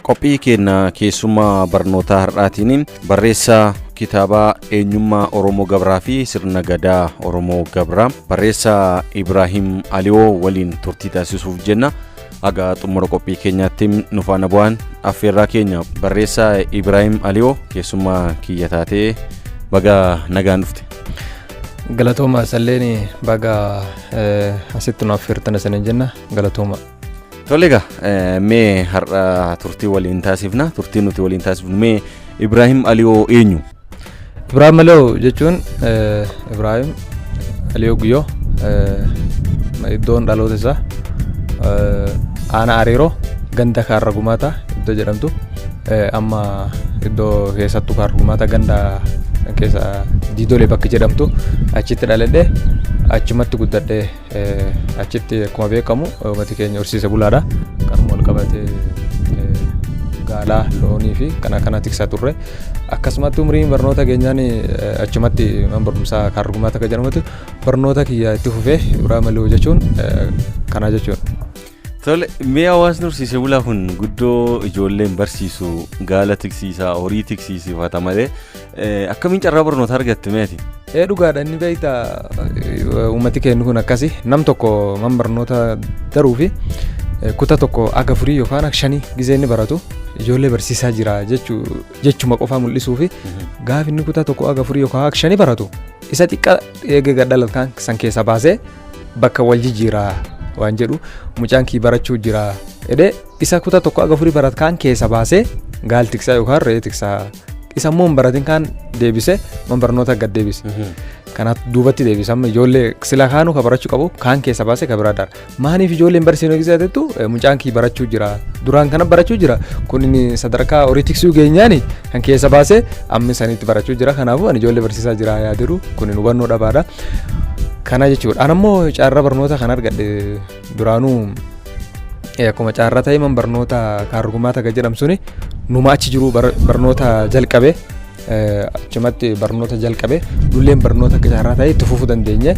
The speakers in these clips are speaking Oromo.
Qophii keenna keessummaa barnootaa har'aatiin barreessaa kitaabaa eenyummaa Oromoo Gabraa fi sirna gadaa Oromoo Gabraa barreessaa Ibraahim Aliyoo waliin turtii taasisuuf jenna. Haga xumura qophii keenyaatti nu faana bu'aan affeerraa keenya barreessaa Ibraahim Aliyoo keessummaa kiyya taatee baga nagaan dhufte. Galatooma salleen baga asitti nu affeertan isiniin jenna galatooma. Tole egaa eh, mee har'a turtii waliin taasifna turtii nuti waliin taasifnu mee Ibraahim Aliyoo eenyu? Ibraahim Aliyoo jechuun eh, Ibraahim Aliyoo Guyyoo eh, iddoon dhaloota isaa eh, aanaa Ariiroo ganda Kaarra Gumaataa iddoo jedhamtu eh, amma iddoo keessattuu Kaarra Gumaataa ganda keessa Diidolee bakka jedhamtu achitti dhaladhee achumatti guddadhee Achitti akkuma beekamu uummati keenya horsiise bulaadha. Kanuma wal qabatee gaalaa, loonii fi kan akkanaa tiksaa turre. Akkasumatti umriin barnoota keenyaan achumatti mana barumsaa kaargumaa takka jedhamutti barnoota kiyya itti fufee biraamali hojjechuun kanaa jechuudha. Tole, mee hawaasni horsiisee bulaa kun guddoo ijoolleen barsiisu gaala tiksiisaa, horii tiksiisifata malee eh, akkamiin carraa barnoota argatte meeti? Ee dhugaadha inni beekta uummati keenya kun akkasi nam tokko man barnoota daruu fi eh, kutaa tokko aga furii yookaan aga shanii gizee inni baratu ijoollee barsiisaa jira jechuu jechuma qofaa mul'isuu fi gaafa inni kutaa tokko aga furii yookaan aga shanii baratu isa xiqqaa eegee gadhalat kan san keessaa baasee bakka wal jijjiiraa waan jedhu mucaan kii barachuu jira jedhee isa kutaa tokko aga furii barat kaan keessa baasee gaal tiksaa yookaan re'ee tiksaa isa immoo hin baratin kaan deebise man barnoota gad deebise. Kanaaf duubatti deebisa amma ijoollee sila kaanuu ka barachuu qabu kaan keessa baase ka biraa daara. Maaliif ijoolleen barsiisuu eegsisaa jettu mucaan kii barachuu jira duraan kana barachuu jira kun inni sadarkaa horii tiksuu geenyaani kan keessa baase amma isaaniitti barachuu jira kanaafuu ani ijoollee barsiisaa jira yaadiru kun hubannoo dhabaadha. Kana jechuudha. An ammoo carraa barnoota kan argadhe duraanuu eh, akkuma carraa ta'e man barnoota kaargumaa taga jedhamu suni numa achi jiru bar- barnoota jalqabe eh, achumatti barnoota jalqabe dulleen barnoota akka carraa ta'e itti fufuu dandeenye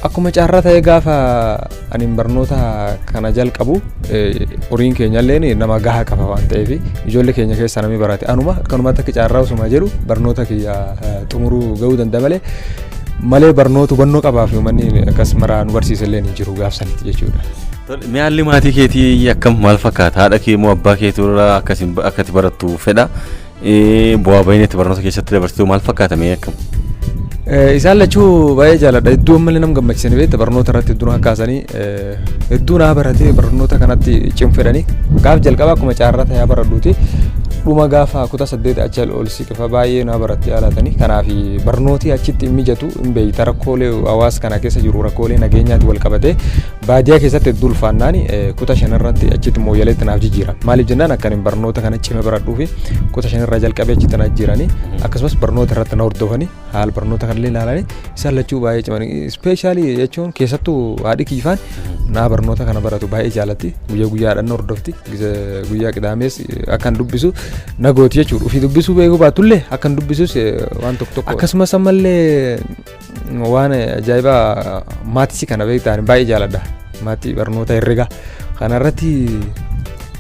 akkuma carraa ta'e gaafa Anin barnoota kana jalqabu horiin keenyalleen nama gahaa qaba waan ta'eef ijoollee keenya keessaa namni barate anuma akkanumatti akka carraa osuma jedhu barnoota kiyya xumuruu ga'uu danda'a malee malee barnoota hubannoo qabaa fi uummanni akkas maraa nu barsiisallee ni jiru gaafsanitti jechuudha. Mee haalli maatii keetii akkam maal fakkaata? Haadha kee moo abbaa keetu irraa akkati barattu fedha? Eh, Bu'aa ba'iin itti barnoota keessatti dabarsitu maal fakkaata mee akkam? Eh, Isaan lachuu baay'ee jaaladha. Hedduu ammallee nama gammachiisanii beekta barnoota irratti hedduu na kakkaasanii eh, hedduu naa baratee barnoota kanatti cimfedhanii gaaf jalqaba akkuma caarraa ta'ee baradhuuti dhuma gaafa kutaa saddeet achi ol siqifa baay'ee naa baratti yaalatanii kanaaf barnooti achitti hin mijatu hin beeyta rakkoolee hawaasa kana keessa jiru rakkoolee nageenyaatti wal qabatee Baadiyaa keessatti hedduu ulfaannaan kutaa shanirratti achitti mooyyaleetti naaf jijjiiran. Maaliif jennaan akka ani barnoota kana cime baradhuu fi kutaa shanirraa jalqabee achitti na jijjiiranii akkasumas barnoota irratti na hordofanii haala barnoota kanallee ilaalanii isaan lachuu baay'ee cimanii ispeeshaalii jechuun keessattuu haadhi kiifaan naa barnoota kana baratu baay'ee jaalatti guyyaa guyyaa haadhan na hordofti Gisa- guyyaa qidaamees akkan dubbisu na gooti jechuudha ofii dubbisuu beekuu baatullee akkan dubbisus eh, waan tokko tokko akkasumas ammallee waan ajaa'ibaa maatisii kana beektaan baay'ee jaaladha maatii barnoota herregaa kanarratti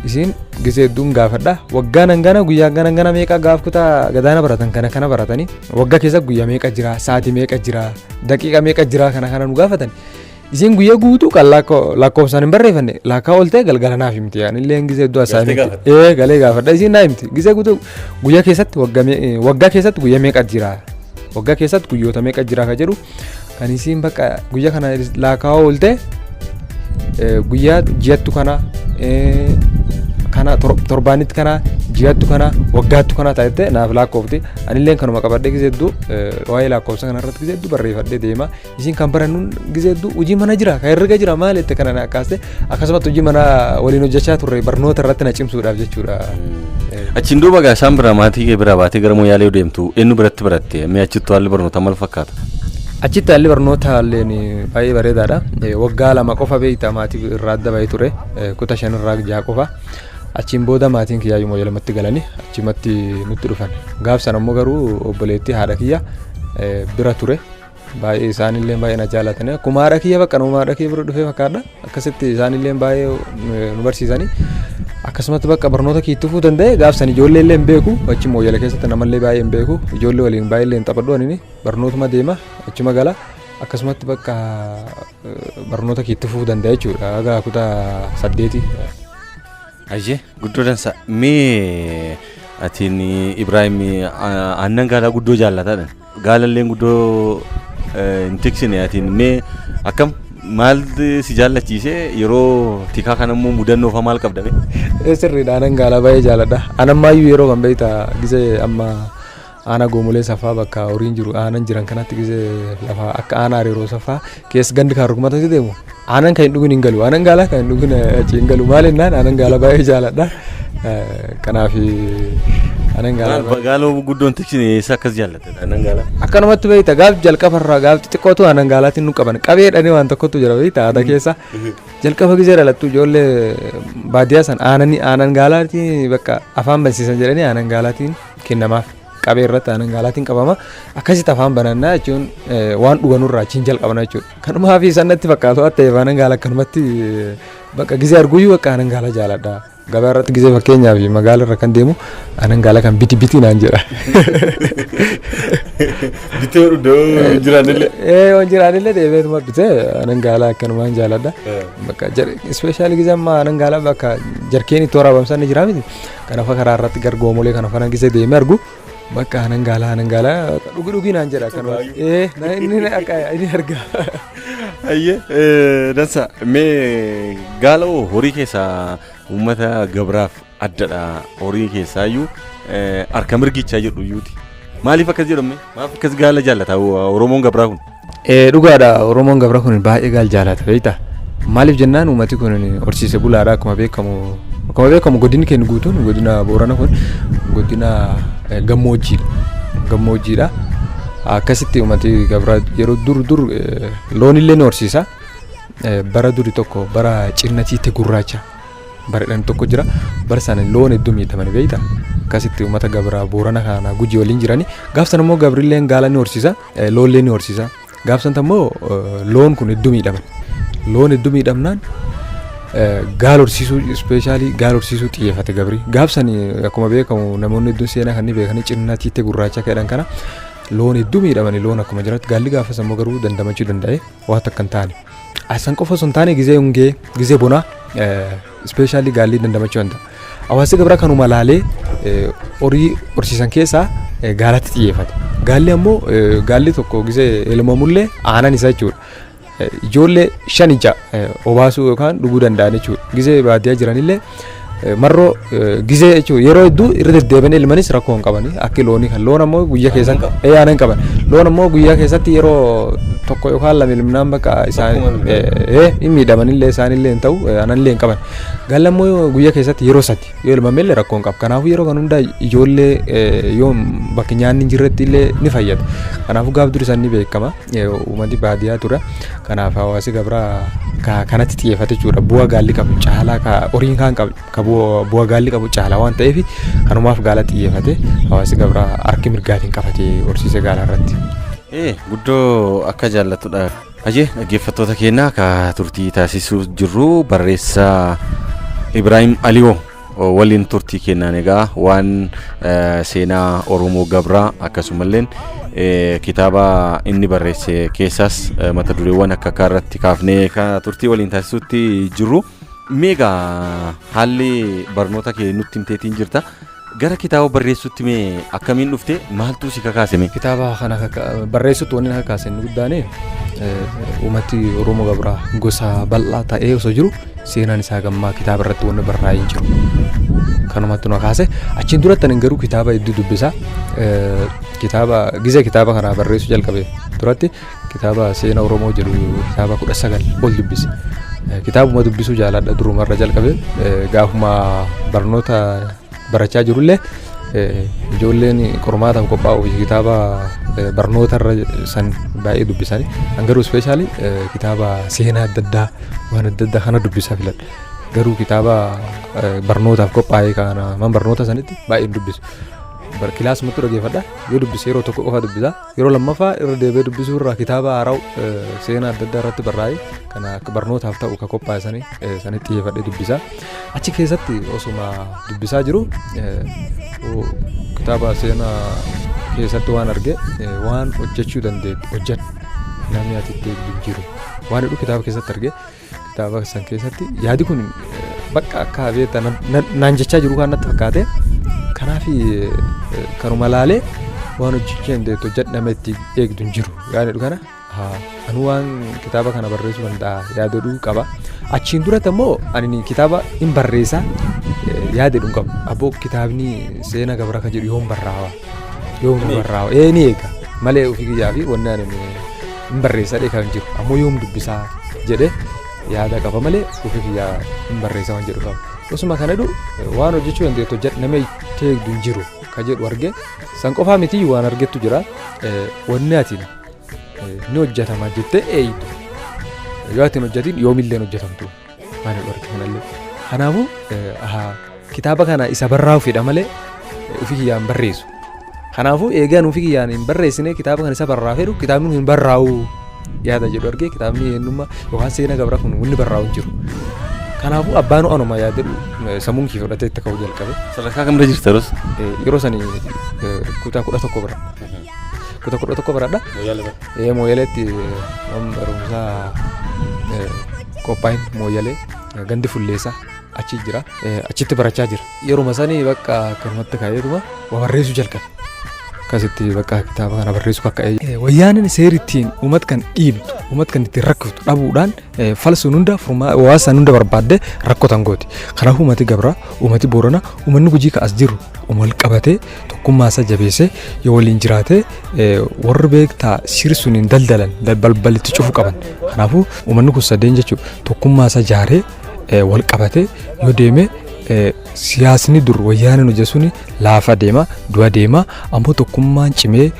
isiin gisee hedduun gaafadha waggaan hangana guyyaa hangana hangana meeqa gaaf kutaa gadaana baratan kana kana baratanii waggaa keessa guyyaa meeqa jira sa'aatii meeqa jira daqiiqa meeqa jira kana kana nu gaafatan Isiin guyyaa guutuu kan lakkoofsaan hin barreeffanne lakkaa ooltee galgala naaf himti yaani illee gisee iddoo asaa Galtee himti. gaafadha. Ee galee gaafadha isiin naa himti gisee guutuu guyyaa keessatti waggaa mee- eh, waggaa keessatti guyyaa meeqa jira waggaa keessatti guyyoota meeqa jira kan jedhu kan isiin bakka guyyaa kana lakkaa ooltee eh, guyyaa ji'attu kana eh, kana tor- torbaanitti kana ji'attu kana waggaattu kana taatee naaf lakkoofti anillee kanuma qabadhee gisee iddoo eh, waa'ee lakkoofsa kanarratti gisee iddoo barreeffadhee deema Isin kan barannuun gisee hedduu hojii mana jira kan herrega jira maal jette kana na akkaaste akkasumatti hojii mana waliin hojjechaa turre barnoota irratti na cimsuudhaaf jechuudha. Achiin duuba gaa isaan bira maatii kee bira baatee gara Moyaalee yoo deemtu eenyu biratti baratte mee achittu haalli barnootaa maal fakkaata? Achitti haalli barnoota illeen baay'ee bareedaadha. Eh, Waggaa lama qofa beektaa maatii irraa adda bahee ture eh, kuta shan irraa ja'a qofa. Achiin booda maatiin kiyyaa yommuu lamatti galanii achumatti nutti dhufan. Gaaf sana immoo garuu obboleettii haadha kiyya eh, bira ture. Baay'ee isaanillee baay'ee na jaalatanii akkuma haadha kiyya bakka nama haadha kiyya bira dhufee fakkaadha akkasitti isaanillee baay'ee nu barsiisanii akkasumatti bakka barnoota kiyya tufuu danda'e gaafsan ijoollee illee hin beeku achi mooyyala keessatti namallee baay'ee hin beeku ijoollee waliin baay'ee illee hin taphadhu ani barnootuma deema achuma gala akkasumatti bakka barnoota kiyya tufuu danda'e jechuudha haga kutaa saddeeti. Ayyee guddoo dansa mee atiin Ibraahim aannan gaalaa guddoo jaallatadha. Gaalalleen guddoo hin tiksine atiin mee akkam maal si jaallachiise yeroo tikaa kana immoo mudannoo fa'aa maal qabda bee? Ee sirriidha anan gaalaa baay'ee jaaladha. Anammaayyuu yeroo kan beekta gisee amma aanaa goomolee safaa bakka horiin jiru aanan jiran kanatti gisee lafa akka aanaa hariiroo safaa keessa gandi kan rukumatatti deemu aanan kan hin dhugin hin galu aanan gaalaa kan hin dhugin achi hin galu maal jennaan aanan gaalaa baay'ee jaaladha kanaaf aanan gaalaa Gaaloo guddoon tiksine eessa akkas jaallate aanan gaalaa. akkanumatti beekta gaaf jalqaba irraa gaaf xixiqqootu aanan gaalaatiin nu qaban qabee dhanii waan tokkotu jira beekta aadaa keessa jalqaba gisee dhalattu ijoollee baadiyyaa san aananii aanan gaalaatiin bakka afaan bansiisan jedhanii aanan gaalaatiin kennamaaf qabee irratti aanan gaalaatiin qabama. Akkasitti afaan banannaa jechuun waan dhuganuu irraa achiin jalqabna jechuudha. Kanumaa fi isaan natti fakkaatu waan ta'eef aanan gaala akkanumatti bakka gizee arguyyuu bakka aanan gaala jaaladha. Gabaa irratti gizee fakkeenyaaf magaala irra kan deemu aanan gaala kan biti biti naan jedha. Bitee iddoo jiraanillee. Ee waan jiraanillee deebi'eetuma bitee aanan gaala akkanumaan jaaladha. Bakka ispeeshaalii gizee ammaa aanan gaala bakka jarkeen itti waraabamsan ni jira miti. Kanafa karaa irratti gargoomolee kana fana gisee deemee argu bakka hanan gaala hanan gaala dhugi dhugi naan jedha kan ee na inni na akka inni arga. Ayyee dansa mee gaala hoo horii keessaa uummata gabraaf addadha horii keessaa iyyuu harka mirgichaa jedhu iyyuuti. Maaliif akkas jedhamme? Maaf akkas gaala jaallata Oromoon gabraa kun? Eh, dhugaadha oromoon gabra kun baay'ee gaal jaalata beekta maaliif jennaan uummati kun horsiise bulaadha akkuma beekamu akkuma beekamu godinni keenya guutuun godina boorana kun godina eh, gammoojjiidha gammoojjiidha akkasitti uummati gabra yeroo dur dur eh, loonillee ni horsiisa Eh, bara duri tokko bara cinnatiitti gurraacha baredhan tokko jira bara sana loon hedduu miidhamani beekta akkasitti uummata gabra boorana kana gujii waliin jirani gaaf sana immoo gabrilleen gaala ni horsiisa Loollee ni horsiisa. Gaafsanta immoo loon kun hedduu miidhaman. Loon hedduu miidhamnaan gaal horsiisuu ispeeshaalii gaal horsiisuu xiyyeeffate gabri. Gaafsan akkuma beekamu namoonni hedduun seenaa kan ni beekanii cinnaa tiittee gurraacha keedhan kana loon hedduu miidhamanii loon akkuma jiratti gaalli gaafas ammoo garuu dandamachuu danda'e. waa takka hin taane. Asan qofa osoo hin taane gizee hongee gizee bonaa ispeeshaalii gaallii dandamachuu danda'a. Hawaasni gabraa kanuma laalee eh, horii horsiisan keessaa eh, gaalatti xiyyeeffata. Gaalli ammoo eh, gaalli tokko gizee elmamullee aanan isaa jechuudha. Eh, Ijoollee shan ija eh, obaasuu yookaan dhuguu danda'an jechuudha. Gizee baadiyyaa jiranillee Marroo gizee jechuun yeroo hedduu irra deddeebiin ilmanis rakkoo hin qabani. Akki loonii kan loon ammoo guyyaa keessatti ee aanan qaban. Loon ammoo guyyaa keessatti yeroo tokko yookaan lama ilminaan bakka isaan ee hin miidhamanillee isaanillee hin ta'u aananillee hin qaban. Gaalli ammoo guyyaa keessatti yeroo sadi yoo ilmamellee rakkoo hin qabu. Kanaafuu yeroo kan hundaa ijoollee yoo bakki nyaanni hin jirretti illee ni fayyada. Kanaafuu gaaf durisaan ni beekama. Yeroo uummati baadiyaa ture kanaaf hawaasi gabraa ka kanatti xiyyeeffate jechuudha. Bu'aa gaalli qabu caalaa ka horiin kaan qabu ka bu'a- bu'aa gaalli qabu caalaa waan ta'eef kanumaaf gaala xiyyeeffate hawaasi gabraa harki mirgaatiin qabate horsiise gaalaa irratti. Ee guddoo akka jaallatudha. Hayyee dhaggeeffattoota keenya ka turtii taasisuu jirru barreessaa Ibraahim Aliyoo. Waliin turtii kennaan egaa waan seenaa Oromoo Gabraa akkasumalleen kitaaba inni barreesse keessaas mata dureewwan akka akka irratti kaafnee turtii waliin taasisuutti jirru. Meegaa haalli barnoota kee nutti himteetiin jirta. Gara kitaaba barreessuutti mee akkamiin dhufte maaltu si kakaase mee? Kitaaba kana barreessuutti wanni na kakaase inni guddaan uummati Oromoo Gabraa gosa bal'aa ta'ee osoo jiru seenaan isaa gammaa kitaaba irratti wanni barraa'ee hin jiru. Kanumatti nu kaase achiin duratti ani garuu kitaaba hedduu dubbisaa kitaaba gizee kitaaba kanaa barreessuu jalqabe duratti kitaaba seena Oromoo jedhu kitaaba kudha sagal ol dubbise. Kitaabuma dubbisuu jaaladha durumarra jalqabe gaafuma barnoota barachaa jirullee ijoolleen qormaataaf qophaa'uuf kitaaba barnoota irra san baay'ee dubbisanii an garuu ispeeshaalii kitaaba seenaa adda addaa waan adda addaa kana dubbisaa filadha. Garuu kitaaba barnootaaf qophaa'ee kana man barnoota sanitti baay'ee dubbisu. Kilaasumatti dhaggeeffadha yoo dubbise yeroo tokko qofa dubbisa. Yeroo lammaffaa irra deebi'ee dubbisuu irraa kitaaba haaraa'u seenaa adda addaa irratti barraa'e kana akka barnootaaf ta'u kan qophaa'e sanii sanitti xiyyeeffadhee dubbisa. Achi keessatti osuma dubbisaa jiru kitaaba seenaa keessatti waan arge waan hojjechuu dandeettu hojjedhu namni ati itti jijjiiru waan jedhu kitaaba keessatti arge. Kitaaba san keessatti yaadi kun bakka akka beekta naan jechaa jiru kan natti fakkaate kanaaf kanuma laalee waan hojjechuu dandeettu hojjedhame itti eegdu hin jiru yaadadhu kana anu waan kitaaba kana barreessuu danda'a yaadadhu qaba achiin duratti ammoo ani kitaaba hin barreessa yaadadhu hin qabu abboo kitaabni seena gabra kan jedhu yoon barraawa yoom na barraa ee ni eega malee ofii kiyyaa fi wanni ani hin barreessadhe kan jiru ammoo yoom dubbisaa jedhe yaada qaba malee ofii kiyyaa hin barreessa waan jedhu qaba osuma kana jedhu waan hojjechuu dandeettu hojjedhu nama itti eegdu hin jiru kan jedhu arge san qofaa miti waan argettu jira Eh, wanni atiin eh, ni hojjetama jettee eeydu yoo atiin hojjetiin yoomillee hin hojjetamtu Mana dhorke kanallee. Kanaafuu eh, ahaa, kitaaba kana isa barraa'u fedha malee eh, ofii kiyyaan barreessu. Kanaafuu eegaan ofii kiyyaan hin barreessine kitaaba kana isa barraa'u fedhu kitaabni kun hin barraa'u yaada jedhu argee kitaabni eenyummaa yookaan seenaa gabra kun wanni barraa'u hin jiru. Kanaafuu abbaan anuma yaadadhu eh, sammuun kiyya fudhatee itti ka'uu jalqabe. Sadarkaa kamirra jirta yeroo sana? Eh, Yeroo sani eh, kutaa kudha tokko bira. kuta kudha tokko baradha. Ee mooyaleetti man barumsaa qophaa'in mooyalee gandi fulleessaa achi jira achitti barachaa jira. Yeruma sanii bakka akkanumatti ka'eetuma waa barreessuu jalqabe. Akkasitti bakka kitaaba kana barreessuu kakka'ee. Wayyaaneen seeri ittiin uumat kan dhiibdu uumat kan ittiin rakkiftu dhabuudhaan falsuun hunda furmaa hawaasaan hunda barbaadde rakkotan gooti. Kanaafuu uummati gabraa uummati boorana uummanni gujii ka as jiru wal qabatee tokkummaa isaa jabeessee yoo waliin jiraate warri beektaa siri sun hin daldalan balbalitti cufu qaban kanaafuu uummanni kun sadeen jechuudha tokkummaa isaa jaaree wal qabatee yoo deeme siyaasni dur wayyaaneen hojja sun laafa deema du'a deema ammoo tokkummaan cimee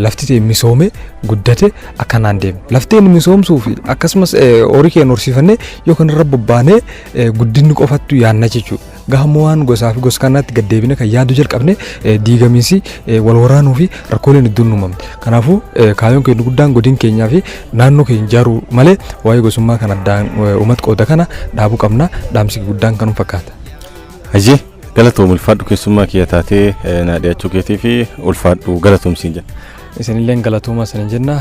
lafti ta'e misoome guddate akkanaan deema lafteen misoomsuu fi akkasumas horii keenya horsiifannee yookaan irra bobbaanee guddinni qofattu yaanna jechuudha. Gahamma waan gosaa fi gos kanaatti gad deebine kan yaaduu jalqabne diigamiinsi wal waraanuu fi rakkooleen hedduun uumamne. Kanaafuu kaayoon keenya guddaan godin keenyaa fi naannoo keenya ijaaruu malee waa'ee gosummaa kan addaan uumat qooda kana dhaabuu qabna dhaamsi guddaan kanuma fakkaata. Hayyee galatoom ulfaadhu keessummaa kiyya taatee naa dhiyaachuu keetii fi ulfaadhu galatoomsiin jenna. Isinilleen galatooma isin jenna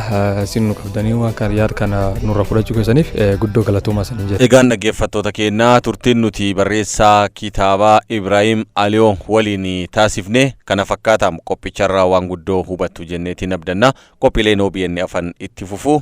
isin nu qabdanii waan kana yaad kana nurra fudhachuu keessaniif guddoo galatooma isin jenna. Egaan dhaggeeffattoota keenya turtiin nuti barreessaa kitaabaa Ibraahim Aliyoo waliin taasifne kana fakkaata qophicharraa waan guddoo hubattu jenneetiin abdanna qophiileen OBN afan itti fufu